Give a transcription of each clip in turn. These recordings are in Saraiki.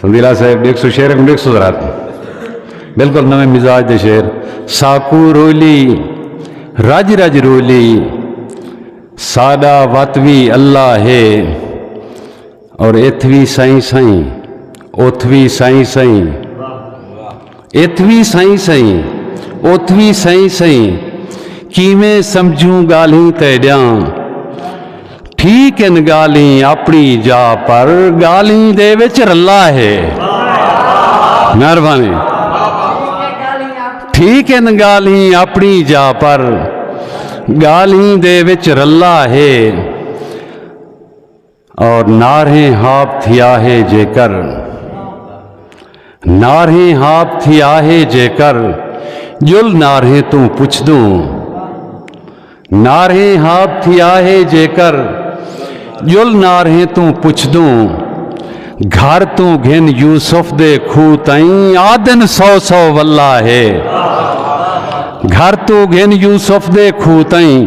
سندیلا صاحب دیکھ سو شعر کو دیکھ سو ذرا بالکل نویں مزاج دے شعر ساکو رولی رج رج رولی ساڈا وت وی اللہ ہے اور اتھ وی سائیں سائیں اتھ وی سائیں سائیں اتھ وی سئیں سئیں اتھ وی سئیں سئیں کیویں سمجھوں ڳالھیں تیݙیاں ٹھیک ہن ڳالھیں اپݨی جا پر ڳالھیں دے وچ رلا ہے مہربانی ٹھیک ہن ڳالھیں اپݨی جا پر ڳالھیں دے وچ رلا ہے اور نارہیں ہاپ تھی آہے جے کر نارہیں ہاپ تھی آہے جے کر جل نارہیں توں پچھ دوں نارہیں ہاپ تھی آہے جے کر جل نارہیں توں پچھ دوں گھر توں گھن یوسف دے کھو تائیں آدن سو سو واللہ ہے گھر توں گھن یوسف دے کھو تائیں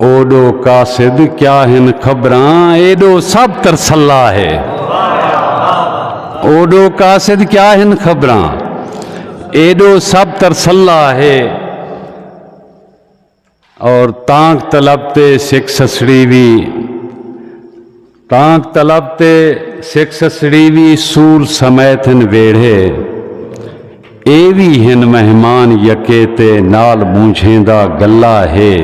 اوڈو قاصد کیا ہن خبراں ایڈو سب ترسلا ہے اوڈو قاصد کیا ہن خبراں ایڈو سب ترسلا ہے اور تانک طلب تے سکھ سسڑی بھی تانک طلب تے سکھ سسڑی وی سول سمیت ہن ویڑھے اے وی ہن مہمان یکے تے نال مونجھیں دا گلہ ہے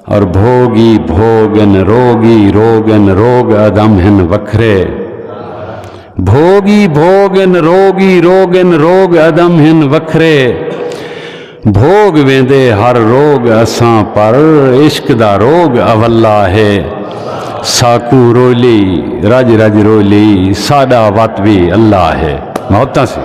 اور بھوگ ای بھوگ ان روگ ای روگ ان روگ ادم ہن وکھرے بھوگ ای بھوگ ان روگ ای روگ ان روگ ادم ہن وکھرے بھوگ ویندے ہر روگ اساں پر عشق دا روگ اولا ہے ساکوں رولی رج رج رولی ساڈا وت وی اللہ ہے محبتاں سی۔